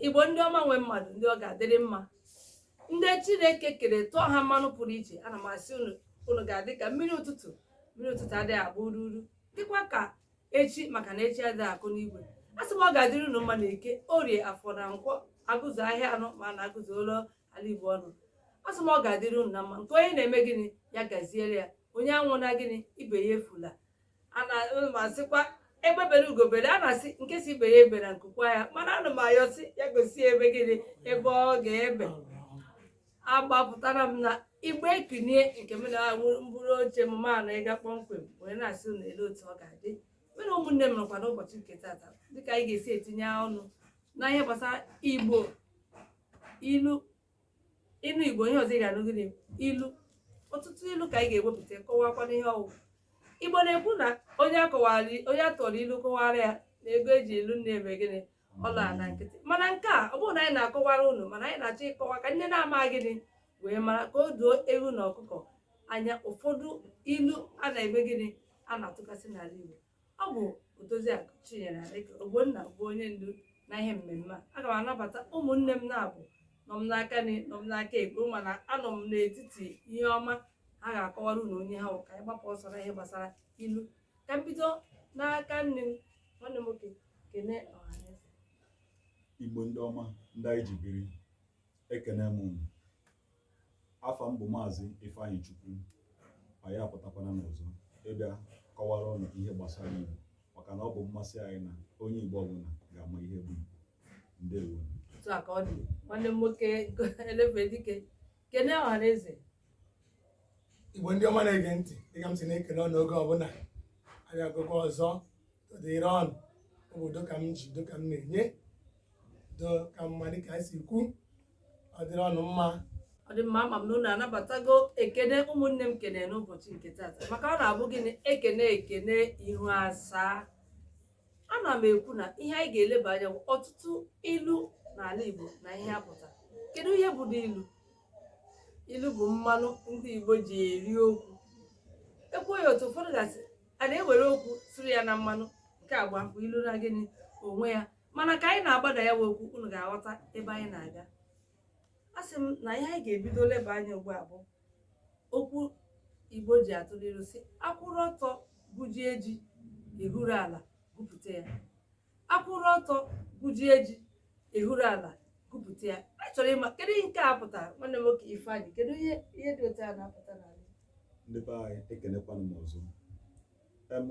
igbo ndị ọma nwe mmadụ ndị ọ ga-adịrị mma ndị chineke kere tụọ ha mmanụ pụrụ iche ana m asị unu unu ga-adị ka mmiri ụtụtụ mmiri ụtụtụ adịghị agba uru unu dịkwa ka echi maka na echi adịghị akụ n'igwe a sị m ọ ga-adịrị unu mma na eke orie afọ na nkwọ agụzuo ahịa anọ ma na agụzuola ala igbo ọnụ asị m ọ ga-adịrị unu na mma nke onye na-eme gịnị ya gaziere ya onye anwụna gịnị ibe ya efula ana m asịkwa egbe bere ugo bere a na-asị nke si ibe ya ebena nku kwaa ya mana ana m ayọ si ya gosi ebe gịnị ebe ọ ga-ebe agbapụtara m na igbe ekinie nke m na-awụ mkpụrụ oche m ma na ịga kpọmkwem wee na-asị unu ele otu ọ ga-adị mere ụmụnne m nọkwa n'ụbọchị nke tata dịka anyị ga-esi etinye ọnụ na ihe gbasara igbo ilu ị nụ igbo ihe ọzọ ị ga-anụ gịnị ilu ọtụtụ ilu ka anyị ga-ewepụta kọwakwana ihe ọ wụ igbo na-ekwu na onye akọwara onye atụọrọ ilu kọwaara ya na ego eji lụ nne ya mee gịnị ọ laa na nkịtị mana nke a ọ bụghị na anyị na-akọwara unu mana anyị na-achọ ịkọwa ka unu na-eme gịnị wee mara ka o doo ewu na ọkụkọ anya ụfọdụ ilu a na-eme gịnị a na-atụkasị n'ala igbo ọ bụ Odoziakụ Chinyere Aleke Ogbonna bụ onye ndu na ihe mmemme a aga m anabata ụmụnne m naabọ nọ m n'aka nri nọ m n'aka ekpe mana anọ m n'etiti ihe ọma ha ga-akọwara unu onye ha wụ ka anyị gbapụ ọsọ na ihe gbasara ilu ka m bido n'aka nri m nwanne m nwoke kene ọhaneze igbo ndị ọma ndị anyị ji biri ekene m unu Afa m bụ Maazị Ifeanyị Chukwu anyị apụtakwana n'ọzọ ịbịa kọwara unu ihe gbasara Igbo maka na ọ bụ mmasị anyị na onye Igbo ọbụla ga-ama ihe bụ Igbo ndewo otu a ka ọ dị nwanne m nwoke elefe dike kene ọha na eze igbo ndị ọma na-ege ntị dịka m si na-ekene unu oge ọbụla abịagokwa ọzọ dịrị unu ọ bụ udo ka m ji udo ka m na-enye udo ka mma dịka anyị si kwu ọ dịrị unu mma ọ dị mma ama m na unu anabatago ekene ụmụnne m kene n'ụbọchị nke tata maka ọ na-abụ gịnị ekenee ekene ihu asaa ana m ekwu na ihe anyị ga-eleba anya bụ ọtụtụ ilu n'ala Igbo na ihe ha pụtara kedu ihe bụdị ilu ilu bụ mmanụ ndị Igbo ji eri okwu ekwuo ya otu ụfọdụ ga-asị a na-ewere okwu siri ya na mmanụ nke a bụkwa ilu na gịnị onwe ya mana ka anyị na-agbada ya wụ okwu unu ga-aghọta ebe anyị na-aga asị m na ihe anyị ga-ebido leba anya ugbu a bụ okwu igbo ji atụ ilu si akwụrụ ọtọ gwujie ji ehuru ala gwupụta ya akwụrụ ọtọ gwujie ji ehuru ala gwupụta ya a chọrọ ịma kedu ihe nke a pụtara nwanne m nwoke Ifeanyị kedu ihe ihe dị otu a na-apụta n'ala ndị be anyị ekenekwana m ọzọ em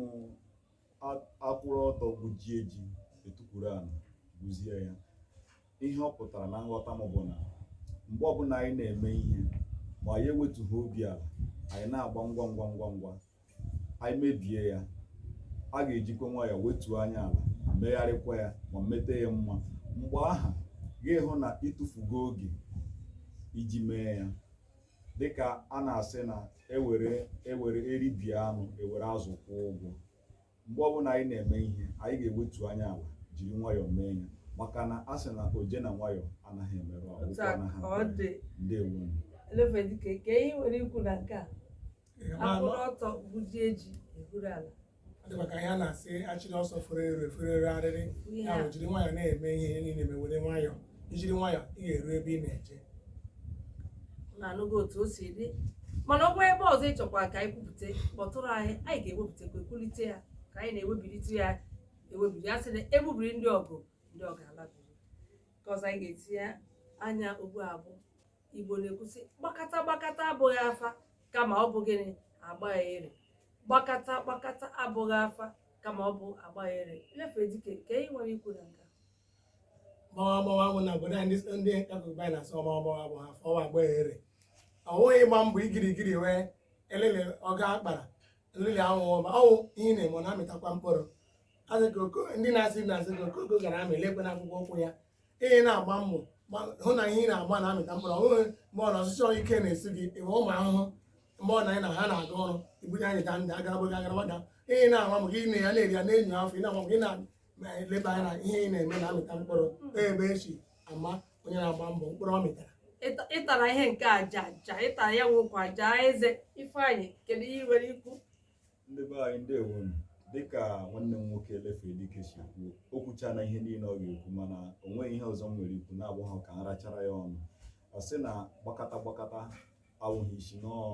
a- akwụrụ ọtọ gwujie ji etukwuru ala gwuzie ya ihe ọ pụtara na nghọta m bụ na mgbe ọbụla anyị na-eme ihe ma anyị ewetughị obi ala anyị na-agba ngwa ngwa ngwa ngwa anyị mebie ya a ga-ejikwa nwayọọ wetuo anya ala megharịkwa ya ma meta ya mma mgbe aha ị ga-ahụ na ịtụfugo oge iji mee ya dịka a na-asị na ewere ewere eribie anụ ewere azụ kwụọ ụgwọ mgbe ọbụla anyị na-eme ihe anyị ga-ewetu anya ala jiri nwayọọ mee ya maka na a sị na oje na nwayọọ anaghị emerụ ahụ Otu a ka ọ dị. ndewo Elefedike kee ihe i nwere ikwu na nke a akwụrụ ọtọ gwujie ji ehuru ala dịkwa ka ihe a na-asị achịrị ọsọ fere ero efere ero arịrị Ihe ya bụ jiri nwayọọ na-eme ihe ihe niile mewere nwayọọ ijiri nwayọọ ị ga-eru ebe ị na-eje unu anụgo otu o si dị mana ọ nwee ebe ọzọ ị chọkwa ka anyị kwupụta kpọtụrụ anyị anyị ga-ewepụtakwa ekwulite ya ka anyị na-ewebilite ya ewebiri ya sị na egbubiri ndị ọgụ ndị ọgụ alabiri nke ọzọ anyị ga-etinye anya ugbu a bụ igbo na-ekwu sị gbakata gbakata abụghị afa kama ọ bụ gịnị agba ere gbakata gbakata abụghị afa kama ọ bụ agba ere Elefedike kee ihe i nwere ikwu na nke gbawa gbawa bụ na obodo anyị ndị akụkụ anyị na-asị gbawa gbawa abụha afa ọ wụ agba ere ọ bụghị ịgba mbọ igirigiri wee elele ọga akpara elele anwụ ọma ọnwụ ihe ị na-eme ọ na-amịtakwa mkpụrụ ndị na-asị na-asị ka okoko gara amị lekwe na akwụkwọ ụkwụ ya ị na-agba mbọ ma hụ na ihe ị na-agba na-amịta mkpụrụ ọ bụghị mgbe ọ na ọchịchị ọrụ ike na-esi gị ịwa ụmụ ahụhụ mgbe ọ na anyị na ha na-aga ọrụ ibunye anyị da ndị agara gbaga agara gbaga ị na-agba maka ị na-ya na-eri ya na-enyo afọ ị na-agba maka ị na-eleba anya na ihe ị na-eme na-amịta mkpụrụ ebe eji ama onye na-agba mbọ mkpụrụ ọ mịtara Ịta- ịtara ihe nke aja aja ịtara ya nwekwa aja eze ifeanyị kedu ihe i nwere ikwu ndị be anyị ndewo em dịka nwanne m nwoke Elefedike si kwuo o kwuchana ihe niile ọ ga-ekwu mana o nweghị ihe ọzọ m nwere ikwu na-abụghị ka m rachara ya ọnụ asị na gbakata gbakata awụghị isi n'ọọ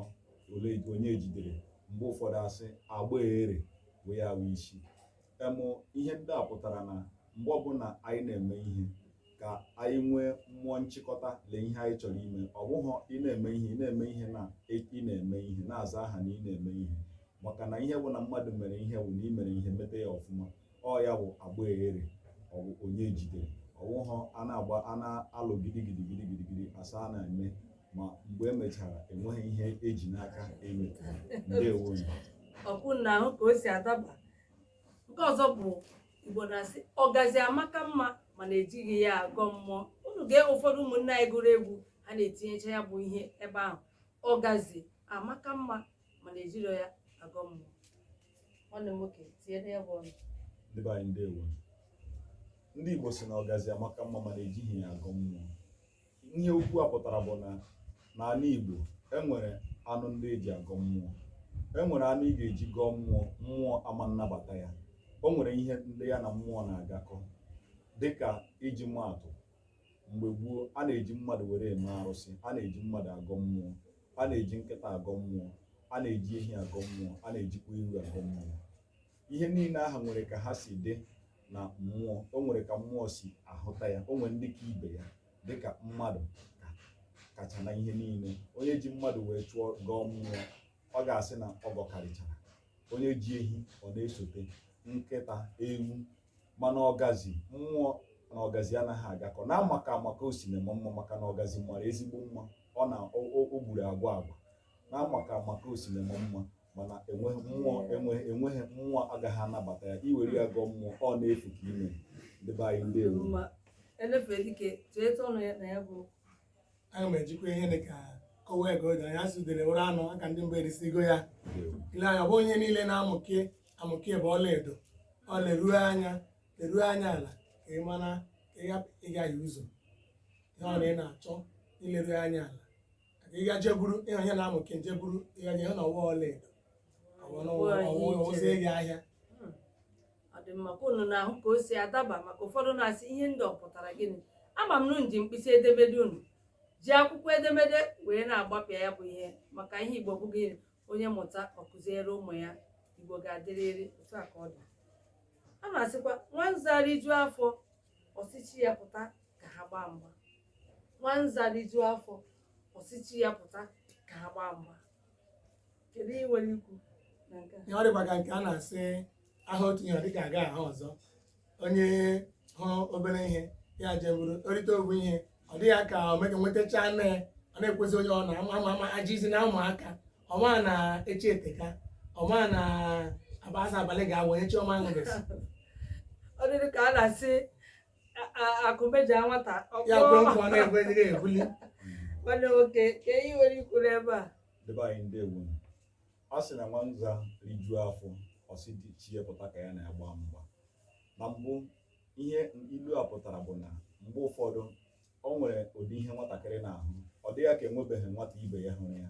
ole onye jidere mgbe ụfọdụ asị agba ere wee ya awụ isi em ihe ndị a pụtara na mgbe ọbụla anyị na-eme ihe ka anyị nwee mmụọ nchịkọta lee ihe anyị chọrọ ime ọ bụghị ị na-eme ihe ị na-eme ihe na ị na-eme ihe na-aza aha na ị na-eme ihe maka na ihe bụ na mmadụ mere ihe bụ na ị mere ihe meta ya ọfụma ọ ya bụ agba ere ọ bụ onye jidere ọ wụhọ a na-agba a na-alụ gidigidi gidigidi asị a na-eme ma mgbe emechara enweghị ihe eji n'aka enye ndewo ọkwa unu na-ahụ ka o si adaba nke ọzọ bụ igbo na-asị ọgazi amaka mma mana ejighị ya agọ mmụọ unu gee ụfọdụ ụmụnne anyị gụrụ egwu ha na-etinyecha ya bụ ihe ebe ahụ ọgazi amaka mma mana ejirọ ya agọ mmụọ nwanne m nwoke tinyere ya bụ ọnụ ndị be anyị ndewo ndị igbo sị na ọgazi amaka mma mana ejighị ya agọ mmụọ ihe okwu a pụtara bụ na n'ala Igbo e nwere anụ ndị eji agọ mmụọ e nwere anụ ị ga-eji gọọ mmụọ mmụọ ama nnabata ya o nwere ihe ndị ya na mmụọ na-agakọ dịka iji maatụ mgbe gboo a na-eji mmadụ were eme arụsị a na-eji mmadụ agọ mmụọ a na-eji nkịta agọ mmụọ a na-eji ehi agọ mmụọ a na-ejikwa ewu agọ mmụọ ihe niile ahụ nwere ka ha si dị na mmụọ o nwere ka mmụọ si ahụta ya o nwere ndị ka ibe ya dịka mmadụ kacha na ihe niile onye ji mmadụ wee chụọ gọọ mmụọ ọ ga-asị na ọ gọkarịchara onye ji ehi ọ na-esote nkịta ewu mana ọgazi mmụọ na ọgazi anaghị agakọ na amaka amaka o si na-eme mma maka na ọgazi mara ezigbo mma ọ na o gburu agwa agwa na amaka amaka o si na-eme mma mana enweghị mmụọ enweghị enweghị mmụọ agaghị anabata ya i were ya gọọ mmụọ ọ na-efu ka ime ndị be anyị ndewo ma elefere dike tụọ etu ọnụ ya na ya bụ aga m ejikwa ihe dị ka kọwa ego dị anya a sị udele wụrụ anụ aka ndị mbụ erisigo ya ile anya ọ bụghị ihe niile na-amụke amụke bụ ọla edo ọ leruo anya leruo anya ala ka ị mara ka ị hapụ ịgahie ụzọ ihe ọ na ị na-achọ leruo anya ala ịga jee buru ihe onye na-amụke jee buru ihe onye na ọ wụ ọla edo ọwụzie gị ahịa Hmm. ọ dị mma ka unu na-ahụ ka o si adaba maka ụfọdụ na-asị ihe ndị a pụtara gịnị ama m na unu ji mkpịsị edemede unu ji akwụkwọ edemede wee na-agbapịa ya bụ ihe maka ihe igbo bụ gịnị onye mụta ọ kụziere ụmụ ya igbo ga-adịrịrị otu a ka ọ dị a na-asịkwa nwa nza rijuo afọ ọ sị chi ya pụta ka ha gbaa mgba nwanza rijuo afọ ọ sị chi ya pụta ka ha gbaa mgba kedu ihe i nwere ikwu na nke a ihe ọ dịkwa ka nke a na-asị aha otu ihe ọ dịka aga aha ọzọ onye hụrụ obere ihe ya je buru o rite ogwu ihe ọ dị ya ka o mega nwetacha nne ya ọ na-ekwezi onye ọ na-ama ama ama ajizi na ụmụaka ọ ma na echi eteka ọ ma na abaasa abalị ga-awụ echi ọ ma ṅụbesi ọ dịrị ka a na-asị a- a- akụ meja nwata ọ ya kwe kpọọ. nkwa na ekwe dịrị ebuli nwanne nwoke kee ihe i nwere ikwu n'ebe a ndị be anyị ndewo a sị na nwa nza rijuo afọ ọ sị chi ya pụta ka ya na ya gbaa mgba na mbụ ihe ilu a pụtara bụ na mgbe ụfọdụ o nwere ụdị ihe nwatakịrị na-ahụ ọ dị ya ka enwebeghị nwata ibe ya hụrụ ya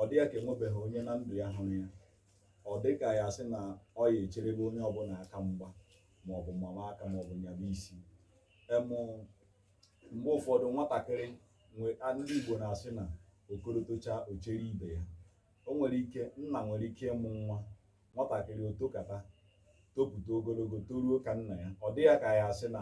ọ dị ya ka enwebeghị onye na ndụ ya hụrụ ya ọ dị ka ya sị na ọ ya echerebe onye ọbụla aka mgba ma ọ bụ mama aka ma ọ bụ nyaba isi em mgbe ụfọdụ nwatakịrị ndị Igbo na-asị na okoro tocha o chere ibe ya o nwere ike nna nwere ike ịmụ nwa nwatakịrị o tokata topụta ogologo toruo ka nna ya ọ dị ya ka ya asị na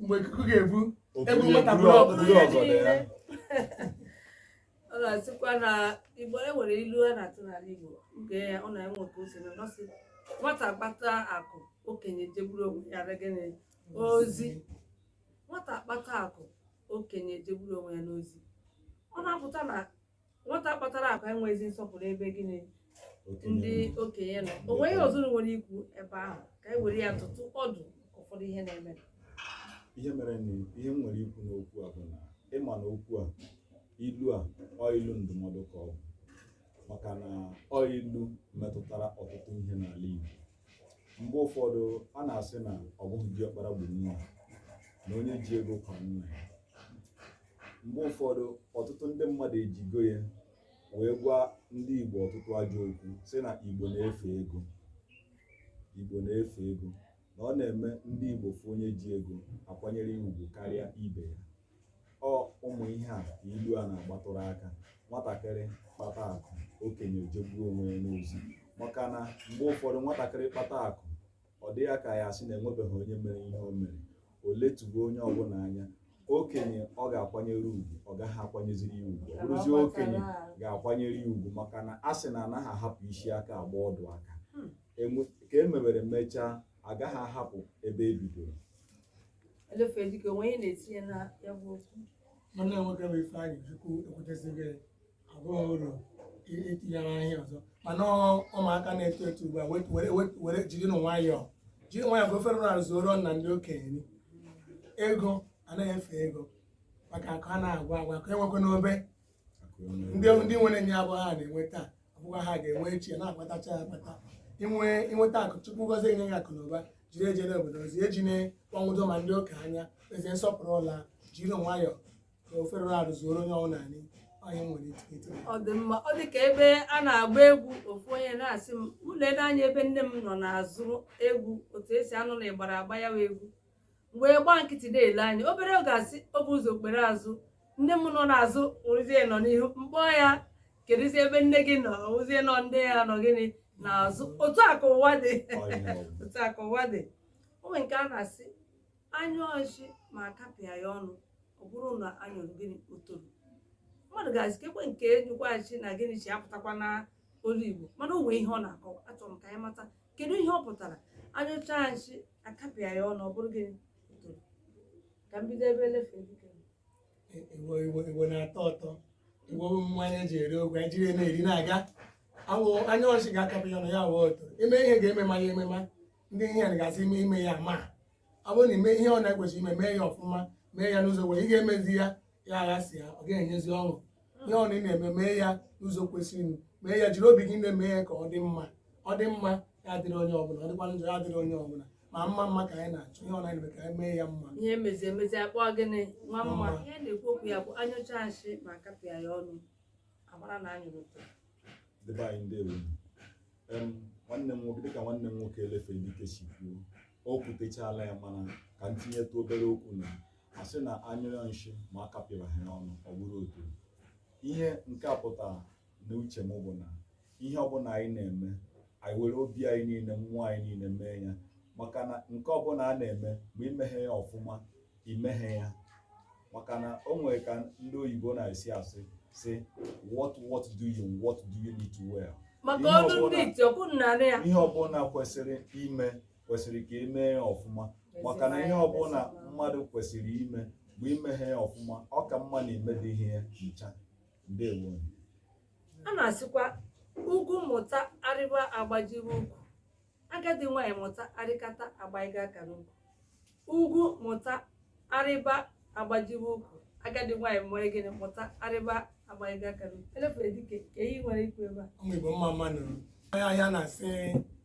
mgbe ikuku ga-ebu egwu nwata bụrụ ọgụ bụrụ ọgụ dị ya ọ na-asịkwa na igbo e nwere ilu a na-atụ n'ala igbo nke ya ọ na-enwe otu o si na ọ sị nwata kpata akụ okenye jegburu onwe ya na gịnị ozi nwata kpata akụ okenye jegburu onwe ya n'ozi ọ na-apụta na nwata kpatara akụ enweghịzi nsọpụrụ ebe gịnị ndị okenye nọ o nwere ihe ọzọ unu nwere ikwu ebe ahụ ka anyị were ya dụtụ ọdụ maka ụfọdụ ihe na-eme ihe mere na ihe m nwere ikwu n'okwu a bụ na ị ma na okwu a ilu a ọ ilu ndụmọdụ ka ọ bụ maka na ọ ilu metụtara ọtụtụ ihe n'ala Igbo mgbe ụfọdụ a na-asị na ọ bụghị diọkpara gburu ya na onye ji ego kwaa nna ya mgbe ụfọdụ ọtụtụ ndị mmadụ ejigo ya wee gwa ndị Igbo ọtụtụ ajọ okwu sị na Igbo na-efe ego Igbo na-efe ego na ọ na-eme ndị Igbo fụ onye ji ego a kwanyere ya ugwu karịa ibe ya ọ ụmụ ihe a ka ilu a na-agbatụrụ aka nwatakịrị kpata akụ okenye ejegbuo onwe ya n'ozi maka na mgbe ụfọdụ nwatakịrị kpata akụ ọ dị ya ka ya asị na enwebeghị onye mere ihe o mere o letugo onye ọbụla anya okenye ọ ga-akwanyere ugwu ọ gaghị akwanyeziri ya ugwu ọ bụrụzi okenye ga-akwanyere ya ugwu maka na a sị na anaghị ahapụ isi aka agba ọdụ aka ka e mewere mechaa agaghị ahapụ ebe e bidoro Elefe dịka onwe ihe na-etinye na ya bụ okwu. nwanne m nwoke bụ Ifeanyịchukwu ekwutesighị abụghị uru i- itinyere ahịa ọzọ mana ọ- ụmụaka na-eto eto ugbu a wet- were- wet- were jiri nụ nwayọọ jiri nwayọọ ka ofere ụra zuoro na ndị okenye nri. ego anaghị efe ego maka akụ a na-agwa agwa ka enwekwa n'obe ndị ndị nwere nyaa abụrọ ha na-enwe taa abụkwa ha ga-enwe echi ya na-akpatacha ya akpata inwe inweta akụ chukwu gozie enye ya akụ na ụba jiri ejere obodo ozi e ji enye obodo ma ndị okenye ezi nsọpụrụ ụla jiri nwayọọ ka ofere ụra rụzuoro onye ọnwụ naanị onye nwere ike ito ọ dị mma ọ dị ka ebe a na-agba egwu ofu onye na-asị m mụ lee n'anya ebe nne m nọ na-azụrụ egwu otu e si anụ na ịgbara agba ya wa egwu wee gbaa nkịtị na-ele anya obere oge asị o bu ụzọ o kpere azụ nne m nọ n'azụ nwụrụzie nọ n'ihu mkpọ ya kedụzi ebe nne gị nọzi nọ nne ya nọ gịnị n'azụ otu a ka ụwa dị otu a ka ụwa dị o nwere nke a na-asị anyụọ nshi ma akapịa ya ọnụ ọ bụrụ na anyụrụ gịnị otoro mmadụ ga-asị kekwe nke nyụkwaghachi na gịnị chi apụtakwa na olu igbo mana o nwee ihe ọ na-akọwa achọrọ m ka anyị mata kedu ihe ọ pụtara anyụcha nshi akapịa ya ọnụ ọ bụrụ gịnị otoro ka m bido ebe elefe dike iwe iwe iwe na-atọ ụtọ iwe mmanya eji eri ogwe anyị jiri ya na-eri na-aga awụ anyụọ nshi ga-akapị ya na ya wee ụtọ ime ihe ga-emema ya emema ndị ihe ya gasị ime ime ya ma ọ bụrụ na ime ihe ọ na-ekwesị ime mee ya ọfụma mee ya n'ụzọ kwesịrị ị ga-emezi ya ya aghasịa ọ gaghị enyezi ọṅụ ihe ọbụla ị na-eme mee ya n'ụzọ kwesịrị mee ya jiri obi gị na-eme ya ka ọ dị mma ọ dị mma ya adịrị onye ọbụla ọ dịkwa njọ ya adịrị onye ọbụla ma mma mma ka anyị na-achọ ihe ọ na-eme ka anyị mee ya mma ihe emezi emezi akpọ gịnị nwa mma mma ihe na-ekwu okwu ya bụ anyụcha nshi ma kapịa ya ọnụ amara na anyụrụ otoro ndị be anyị ndewo em nwanne m nwoke dịka nwanne m nwoke elefe dike si kwuo o kwutechala ya mana ka m tinyetụ obere okwu na asị na anyụọ nshi ma akapịrahụ ya ọnụ ọ bụrụ otoro ihe nke a pụtara na uche m bụ na ihe ọbụla anyị na-eme anyị were obi anyị niile mmụọ anyị niile mee ya maka na nke ọbụla a na-eme ma imeghị ya ọfụma imeghị ya maka na o nwere ka ndị oyibo na-esi asị si what worth doing worth doing well maka ọrụ ndị iti ọkụ narị ya ihe ọbụla kwesịrị ime kwesịrị ka emee ya ọfụma maka na ihe ọbụla mmadụ kwesịrị ime ma imeghị ya ọfụma ọ ka mma na imedịghị ya ncha ndewo a na-asịkwa ugwu mụta arịba agbajiwe ukwu agadi nwaanyị mụta arịkata agbaiga aka n'ukwu ugwu mụta arịba agbajiwe ukwu agadi nwaanyị mee gịnị mụta arịba agbaiga aka n'ukwu elefere dike kee ihe i nwere ikwu ebe a ụmụ igbo mma mma nụ o nwere ihe a na-asị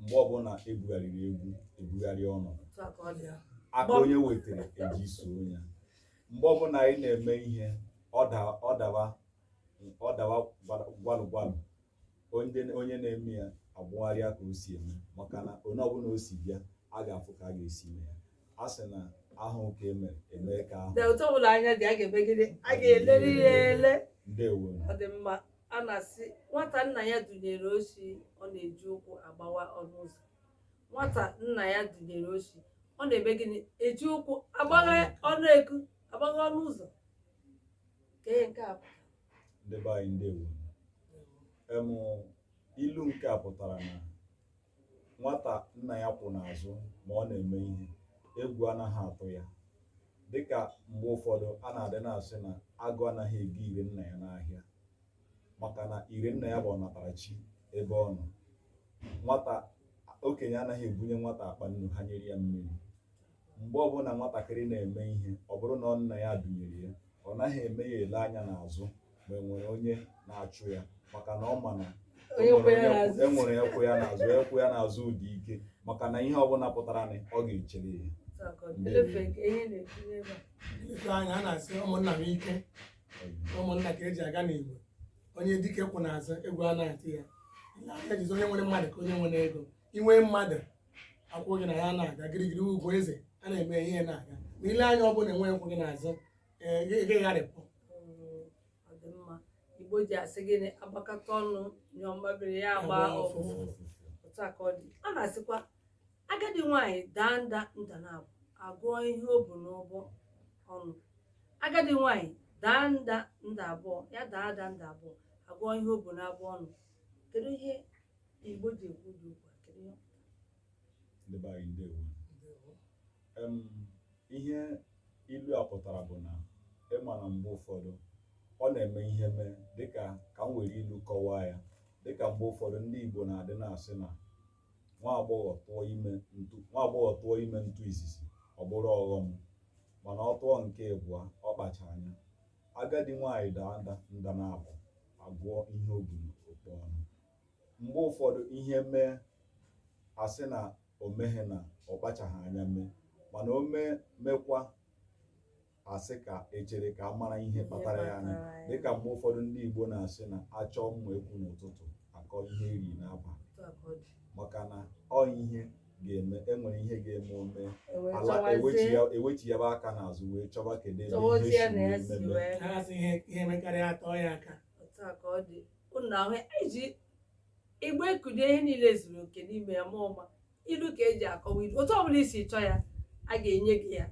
mgbe ọbụla ebugharịrị egwu ebugharịa ọnọdụ aka onye wetara eji eso onye mgbe ọbụla anyị na-eme ihe ọ dawa gwalụ gwalụ onye na-eme ya ebugharịa ka o si eme maka na onye ọbụla o si bịa a ga-afụ ka a ga-esi eme ya a sị na ahụ ka emere emee ka ahụ na otu ọbụla anya dị a ga-eme gịnị a ga-eleri ya ele ndewo ọ dị mma a na-asị nwata nna ya dunyere oshi ọ na-eji ụkwụ agbawa ọnụ ụzọ nwata nna ya dunyere oshi ọ na-eme gịnị eji ụkwụ agbagha ọnụ eku agbagha ọnụ ụzọ kee ihe nke a pụtara ndị be anyị ndewo nụ ilu nke a pụtara na nwata nna ya kwụ n'azụ ma ọ na-eme ihe egwu anaghị atụ ya dịka mgbe ụfọdụ a na-adị na-asị na agụ anaghị ego ire nna ya n'ahịa maka na ire nna ya bụ ọnatarachi ebe ọ nọ nwata okenye anaghị ebunye nwata akpa nnu hanyere ya mmiri Mgbe ọbụla nwatakịrị na-eme ihe, ọ bụrụ na ọ nna ya dunyere ya, ọ naghị eme ya ele anya n'azụ ma e nwere onye na-achụ ya maka na ọ ma na e nwere nke kwụ ya n'azụ kwụ ya n'azụ ụdị ike maka na ihe ọbụla pụtara na ọ ga-echere ya ife anya a na-asị ụmụnna bụ ike ụmụnna ka eji aga n'igbo onye dike kwụ n'azụ egwu anaghị atụ ya ihe anyị ji asị onye nwere mmadụ ka onye nwere ego i nwee mmadụ akwụ gị na ya na-aga girigiri ugwu eze a na-eme ihe na-aga ma i lee anya ọ bụ na enweghị nke kwụ gị n'azụ ee, gị gị gharịpụ Ọ dị mma. Igbo ji asị gịnị agbakọta ọnụ nyụọ mmamịrị ya agba Agba ụfụfụ ụfụfụ. otu a ka ọ dị a na-asịkwa agadi nwaanyị daa nda nda naabọ agụọ ihe o bu n'abọ ọnụ agadi nwaanyị daa nda nda abụọ ya daa ada nda abụọ agụọ ihe o bu n'abọ ọnụ kedu ihe Igbo ji ekwu ụdị okwu a, kedu ihe ọ pụtara? Ndị be anyị ndewo. Ndewo. Em, ihe ilu a pụtara bụ na ị ma na mgbe ụfọdụ ọ na-eme ihe mee dịka ka m were ilu kọwaa ya dịka mgbe ụfọdụ ndị Igbo na-adị na-asị na nwa agbọghọ tụọ ime ntụ nwa agbọghọ tụọ ime ntụ izizi ọ bụrụ ọghọm mana ọ tụọ nke ịbụa ọ kpacha anya agadi nwaanyị daa nda nda naabọ agụọ ihe o bu n'ukpa ọnụ mgbe ụfọdụ ihe mee asị na o meghị na ọ kpachaghị anya mee mana o mee mekwa asị ka echere ka a mara ihe kpatara ya anya kpatara ya. dịka mgbe ụfọdụ ndị Igbo na-asị na achọọ mma ekwu n'ụtụtụ akọọ ihe e riri n'abalị Otu a ka ọ dị. maka na ọ ihe ga-eme enwere ihe ga-eme o mee ala ewechi ya bụ aka n'azụ wee chọba kedu ebe ihe si wee meme na-asị ihe ihe mekarịa atọ ya aka otu a ka ọ dị ụnụ ahụ iji igbe kudo ihe niile zuru oke n'ime ya ma ọma ilu ka eji akọwa ilu otu ọbụla i si chọọ ya a ga-enye gị ya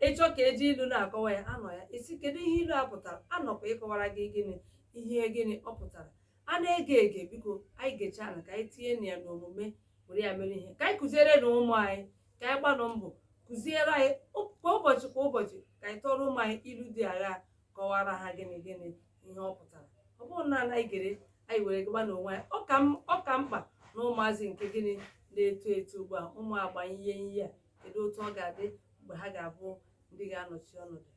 ị chọọ ka eji ilu na-akọwa ya anọ ya ị sị kedu ihe ilu a pụtara anọkwa ịkọwara gị gịnị ihe gịnị ọ pụtara a na-ege ege biko anyị gechaala ka anyị tinye na ya n'omume were ya mere ihe ka anyị kụziere na ụmụ anyị ka anyị gbanụ mbọ kụziere ha kwa ụbọchị kwa ụbọchị ka anyị tụọrọ ụmụ anyị ilu dị agha kọwara ha gịnị gịnị ihe ọ pụtara ọ bụghị naanị anyị gere anyị were gaba n'onwe anyị ọ ka mkpa na ụmụazị nke gịnị na-eto eto ugbu a ụmụ agbanye ihe ihe a kedu otu ọ ga-adị mgbe ha ga-abụ ndị ga-anọchi ọnọdụ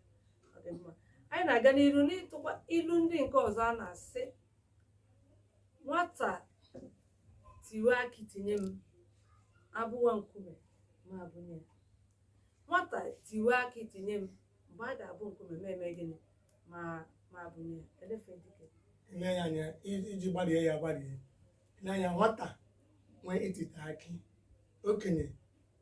ọ dị mma anyị na-aga n'iru n'ịtụkwa ilu ndị nke ọzọ a na-asị nwata tiwe akị tinye m ebuwe nkume m ebunye ya. nwata tiwe akị tinye m mgbe a ga-ebu nkume m eme gịnị m m ebunye ya. Elefe dike. ile ya anya i- iji gbarie ya gbarie na ya nwata nwee itita akị okenye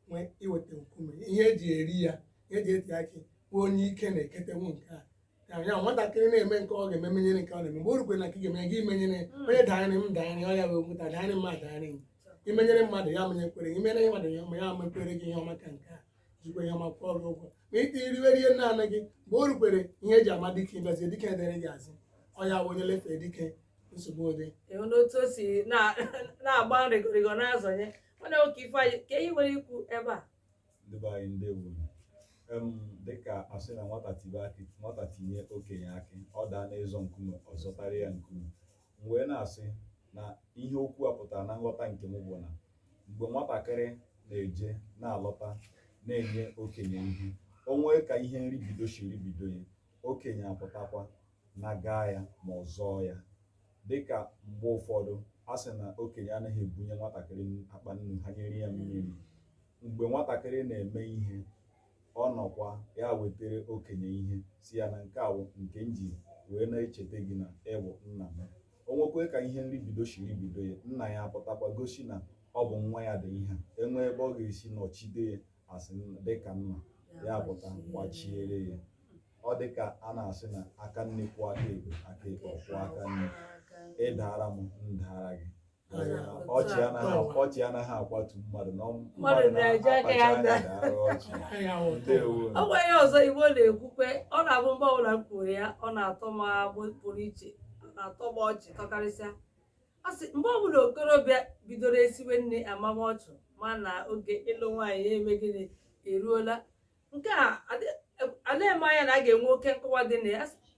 nwee iweta nkume ihe eji eri ya ihe eji eti akị bụ onye ike na-eketewu nke a ya ya nwatakịrị na-eme nke ọ ga-eme menyere nke ọ na-eme mgbe o rukwere na nke ị ga-eme gị menyere onye daịrị m daịrị ọ ya wee nweta daịrị m daịrị m i menyere mmadụ ya menyekwere gị i menyere mmadụ ya ma ya mekwere gị ihe ọma ka nke a jikwa ya ma kwụọ gị ụgwọ ma ị tiriwe rie naanị gị mgbe o rukwere ihe eji ama dike imezie dike edere gị azụ ọ ya onye lefee dike nsogbu adị ịhụ n'otu o si na- na-agba nrịgọrịgọ na-azọnye mana oke ifeanyị kee ihe i nwere ikwu ebe a ndị be anyị ndewo em dịka a sị na nwata tibe akị nwata tinye okenye akị ọ daa n'ịzọ nkume ọ zọtara ya nkume M wee na-asị na ihe okwu a pụtara na nghọta nke m bụ na mgbe nwatakịrị na-eje na-alọta na-enye okenye ihe o nwee ka ihe nribido si ribido ya okenye apụtakwa na gaa ya ma ọ zọọ ya dịka mgbe ụfọdụ a sị na okenye anaghị ebunye nwatakịrị akpa nnu hanyere ya mmiri mgbe nwatakịrị na-eme ihe ọ nọkwa ya wetara okenye ihe sị ya na nke a wụ nke m ji wee na-echeta gị na ị wụ nna m o nwekwe ka ihe nribido shi ribido ya nna ya apụtakwa gosi na ọ bụ nwa ya dị ihe a enwee ebe ọ ga-esi nọchide ya a sị dịka nna ya pụta gbachiere ya ọ dị ka a na-asị na aka nri kwọọ aka ekpe aka ekpe kwọọ aka nri ị daara m m daara gị ọchị anaghị akwatu mmadụ na mmadụ na-eji aka ya ọ gwa ya ọzọ igbo na-ekwukwe ọ na-abụ mgbe ọbụla m kwuru ya ọ na-atọ m agbụ pụrụ iche ọ na-atọ m ọchị tọkarịsịa ọ sị mgbe ọbụla okorobịa bidoro esiwe nri amama ọchị ma na oge ịlụ nwaanyị ya eme gịnị eruola nke a anaghị eme anya na a ga-enwe oke nkọwa dị na ya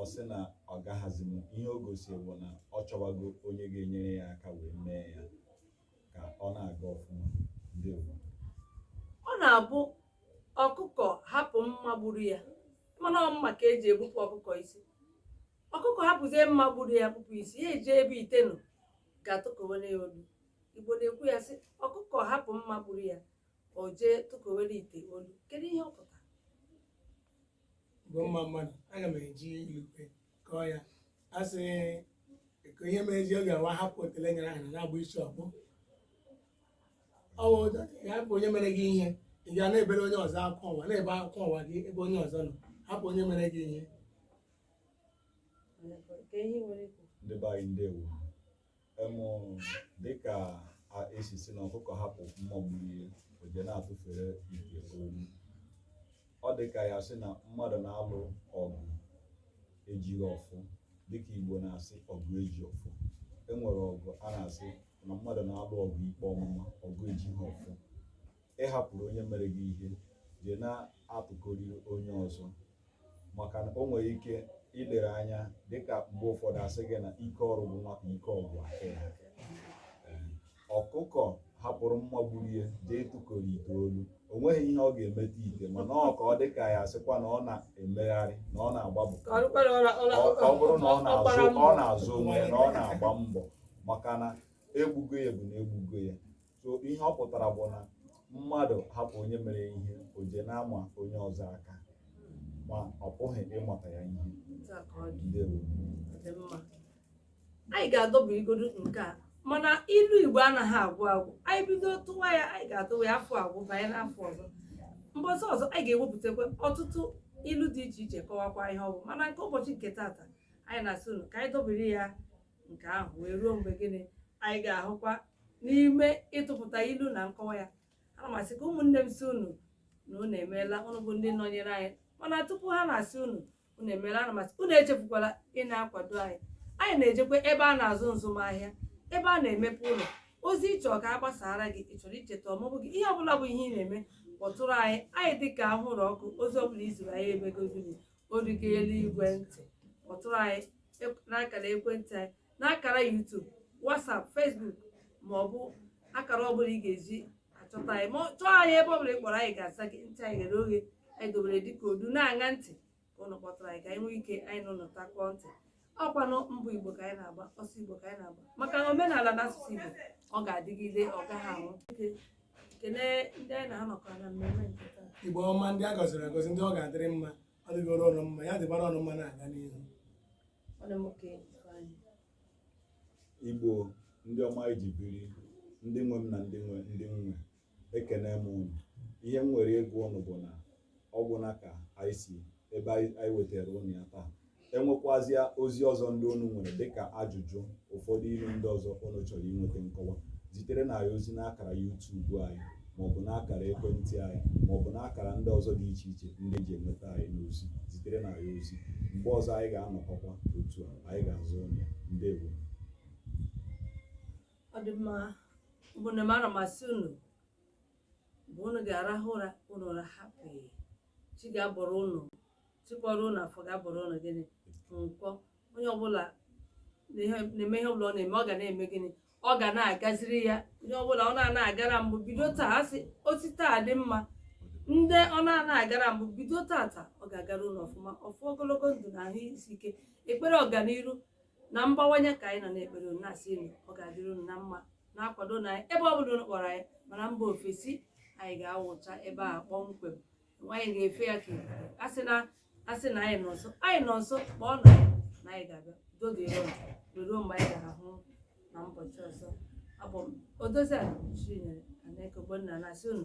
ọ sị na ọ gaghịzi m ihe o gosiri bụ na ọ chọwago onye ga-enyere ya aka wee mee ya ka ọ na-aga ọfụma ndị Igbo. ọ na-abụ ọkụkọ hapụ mma gburu ya mana ọ mma ka e ji egbupụ ọkụkọ isi ọkụkọ hapụzie mma gburu ya gbupụ isi ya jee ebe ite nọ gaa tụkowere ya olu igbo na-ekwu ya sị ọkụkọ hapụ mma gburu ya o jee tụkowere ite olu kedu ihe ọ pụtara igbo mma mma nụ aga m eji ilu kọwaa ya a sị ka ihe mere ji ọ ga-awa hapụ otele nyụrụ ahụ na na-agba isi ọkpọ ọ wụ ịhapụ onye mere gị ihe ị ga na-ebere onye ọzọ akwa ụwa na-ebe akwa ụwa gị ebe onye ọzọ nọ hapụ onye mere gị ihe Ka ihe nwere ikwu. ndị be anyị ndewo emụ dịka a- esi si na ọkụkọ hapụ mma gburu ya o je na-atụfere ite olu ọ dị ka ya sị na mmadụ na-alụ ọgụ ejighị ọfọ dịka igbo na-asị ọgụ eji ọfọ e nwere ọgụ a na-asị na mmadụ na-alụ ọgụ ikpe ọmụma ọgụ ejighị ọfọ ị hapụrụ onye mere gị ihe je na-atụkọrị onye ọzọ maka na o nwere ike ilere anya dịka mgbe ụfọdụ a sị gị na ike ọrụ gwụ nwata ike ọgụ aka ya Ee, ọkụkọ hapụrụ mma gburu ya jee tụkọrọ ite olu o nweghị ihe ọ ga-emeta ite mana ka ọ dị ka a sịkwa na ọ na-emegharị na ọ na-agbapụta Ọrụkwara ọ na- ọ na- ọ ọ bụrụ na ọ ọ na-azụ gbara ọ mbọ. na-azụ onwe ya na ọ na-agba mbọ maka na e gbugo ya bụ na e gbugo ya so ihe ọ pụtara bụ na mmadụ hapụ onye mere ihe o je na-ama onye ọzọ aka ma ọ pụghị imeta ya ihe ndewo anyị ga-edobegodu nke a mana ilu igbo anaghị agwụ agwụ anyị bido tụwa ya anyị ga-atụwa ya afọ agwụ banye n'afọ ọzọ mbọsị ọzọ anyị ga-ewepụtakwa ọtụtụ ilu dị iche iche kọwakwa ihe ọ bụ mana nke ụbọchị nke tata anyị na-asị unu ka anyị dobere ya nke ahụ wee ruo mgbe gịnị anyị ga-ahụkwa n'ime ịtụpụta ilu na nkọwa ya ana m asị ka ụmụnne m si unu na unu emeela unu bụ ndị nọnyere anyị mana tupu ha na-asị unu unu emeela ana m asị unu echefukwala ịna-akwado anyị anyị na-ejekwa ebe a na-azụ nzụmahịa ebe a na-emepe ụlọ ozi ị chọọ ka a gbasaara gị ị chọrọ icheta ọmụmụ gị ihe ọbụla bụ ihe ị na-eme kpọtụrụ anyị anyị dị ka anwụrụ ọkụ ozi ọbụla i ziri anyị eme ka ozi gị ozi ga-eru igwe ntị kpọtụrụ anyị ep- n'akara ekwentị anyị n'akara YouTube WhatsApp Facebook ma ọ bụ akara ọ bụla ị ga-eji achọta anyị ma ọ- chọọ anyị ebe ọ bụla ị kpọrọ anyị ga-aza gị ntị anyị ghere oghe anyị dobere dịka odu na-aṅa ntị ka ụnụ kpọtụrụ anyị ka anyị nwee ike anyị na ụnụ takọọ ntị ọ kwanụ mbọ igbo ka anyị na-agba ọsọ igbo ka anyị na-agba maka na omenala na asụsụ igbo ọ ga-adịgide ọ gaghị anwụ kelee ndị anyị na ha nọkọ na mmemme nke taa igbo ọma ndị a gọziri agọzi ndị ọ ga-adịrị mma ọ dịgoro unu mma ya dịbara unu mma na-aga n'ihu ọ dị m oke Ifeanyị. igbo ndị ọma e ji biri ndị nwe m na ndị nwe ndị nwe ekene m unu ihe m nwere ịgwa unu bụ na ọ gwụna ka anyị si ebe anyị anyị wetara unu ya taa enwekwazịa ozi ọzọ ndị unu nwere dịka ajụjụ ụfọdụ ilu ndị ọzọ unu chọrọ inweta nkọwa ziterenụ anyị ozi n'akara yutubu anyị maọbụ n'akara ekwentị anyị maọbụ n'akara ndị ọzọ dị iche iche ndị e ji enweta anyị n'ozi ziterenụ anyị ozi mgbe ọzọ anyị ga-anọkọkwa otu a anyị ga-aza unu ya ndewo ọ dị mma bụ na mara masị unu mgbe unu ga-arahụ ụra unu ụra hapụ chi ga-abọrọ unu chịkọrọ unu afọ ga-abọrọ unu gịnị nkwọ onye ọbụla na-eme ihe ọbụla ọ na-eme ọ ga na-eme gịnị ọ ga na-agaziri ya onye ọbụla ọ na-ana agara mbụ bido taa a sị o si taa dị mma ndị ọ na-ana agara mbụ bido tata ọ ga-agara unu ọfụma ọfụ ogologo ndụ na ahụ isi ike ekpere ọganiru na mgbawanye ka anyị nọ na-ekpere unu na-asị unu ọ ga-adịrị unu na mma na-akwadonụ anyị ebe ọ bụla unu kpọrọ anyị ma na mba ofesi anyị ga-awụcha ebe a kpọmkwem anyị ga-efe ya ka asị na asị na anyị nọ nso anyị nọ nso kpọọnụ anyị na anyị ga-abịa doge ya ọnụ wee ruo mgbe anyị ga-ahụ na ụbọchị ọzọ abụ m odoziakụ chinyere nweke ogbonna na-asị unu